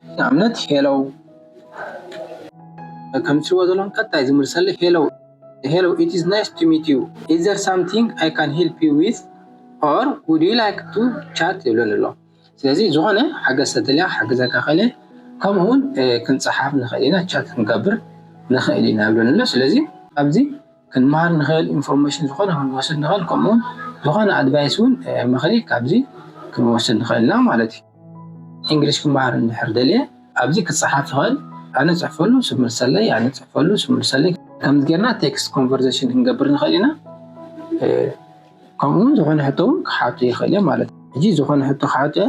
ንኣብነት ሄሎ ከም እትሪእዎ ዘለኹም ቀጣይ ዝምልሰለይ ሄሎ ሄሎ ኢት ኢዝ ናይስ ቱ ሚት ዩ ኢዝ ዘር ሳምቲንግ ኣይ ካን ሄልፕ ዩ ዊዝ ኦር ውድ ዩ ላይክ ቱ ቻት ይብለኒ ኣሎ ስለዚ ዝኾነ ሓገዝ ተደልያ ክሕግዘካ ክእል እየ ከምኡ እውን ክንፀሓፍ ንኽእል ኢና ቻት ክንገብር ንኽእል ኢና ይብለኒ ኣሎ ስለዚ ኣብዚ ክንመሃር ንክእል ኢንፎርሜሽን ዝኮነ ክንወስድ ንክእል ከምኡ ውን ዝኮነ ኣድቫይስ ውን ምክሪ ካብዚ ክንወስድ ንክእል ኢና ማለት እዩ። ኢንግሊሽ ክመሃር እንድሕር ደልየ ኣብዚ ክጸሓፍ ይክእል ኣነ ጽሕፈሉ ስብ ምልሰለይ ኣነ ጽሕፈሉ ስብ ምልሰለይ ከምዚ ጌርና ቴክስት ኮንቨርዘሽን ክንገብር ንክእል ኢና ከምኡ ውን ዝኮነ ሕቶ ውን ክሓቱ ይክእል እየ ማለት እዩ። ሕጂ ዝኮነ ሕቶ ክሓቱ እየ።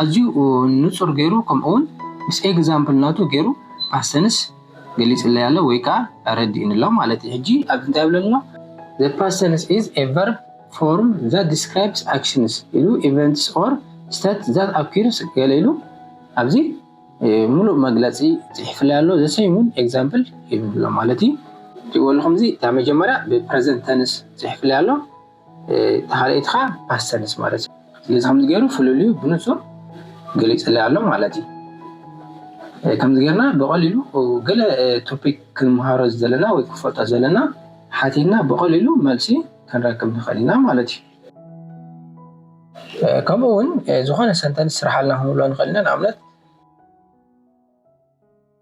ኣዝዩ ንጹር ገይሩ ከምኡ ውን ምስ ኤግዛምፕል ናቱ ገይሩ ፓሰንስ ገሊጽለይ ኣሎ ወይ ከኣ ኣረዲኡኒ ኣሎ ማለት እዩ ሕጂ ኣብዚ እንታይ ይብለኒ ኣሎ The pastens is a verb form that describes actions ኢሉ events or state that occurs ገለ ኢሉ ኣብዚ ምሉእ መግለጺ ጽሒፍለይ ኣሎ the same ውን ኤግዛምፕል ሂቡኒ ኣሎ ማለት እዩ ትሪእዎ ኣለኹም እዚ እታ መጀመርያ ብ ፕረዘንት ተንስ ጽሒፍለይ ኣሎ ተሓለይቲ ከኣ ፓሰንስ ማለት እዩ። ስለዚ ከምዚ ገይሩ ፍልልዩ ብንጹር ገሊጽለይ ኣሎ ማለት እዩ። ከምዚ ገርና ብቐሊሉ ገለ ቶፒክ ክንምሃሮ ዘለና ወይ ክፈልጦ ዘለና ሓቲትና ብቐሊሉ መልሲ ክንረክብ ንኽእል ኢና ማለት እዩ። ከምኡ እውን ዝኾነ ሰንተንስ ስርሓልና ክንብሎ ንኽእል ኢና ንኣብነት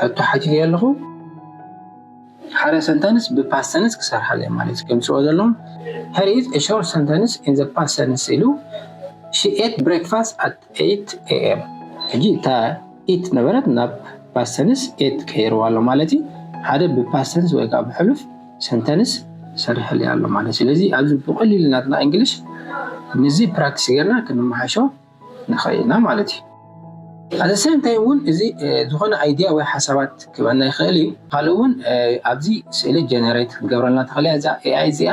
ሕቶ ሓቲተዮ ኣለኹ ሓደ ሰንተንስ ብፓስት ተንስ ክሰርሓ ኣለዮ ማለት እዩ ከምፅኦ ዘለዎም ሄር ኢዝ ኤ ሾርት ሰንተንስ ኢን ዘ ፓስት ተንስ ኢሉ ሺ ኤት ብሬክፋስት ኣት ኤይት ኤኤም ሕጂ እታ ኢት ነበረት ናብ ፓስት ተንስ ኤት ቀይርዋ ኣሎ ማለት እዩ ሓደ ብፓስት ተንስ ወይ ከዓ ብሕሉፍ ሰንተንስ ሰርሕልያ ኣሎ ማለት ስለዚ ኣብዚ ብቐሊሉ ናትና እንግሊሽ ንዚ ፕራክቲስ ጌርና ክንመሓሾ ንኸእል ኢና ማለት እዩ። At the same time እውን እዚ ዝኾነ idea ወይ ሓሳባት ክበና ይኸእል እዩ። ካልእ እውን ኣብዚ ስእሊ generate ክትገብረልና ትኸእል እያ እዛ AI እዚኣ።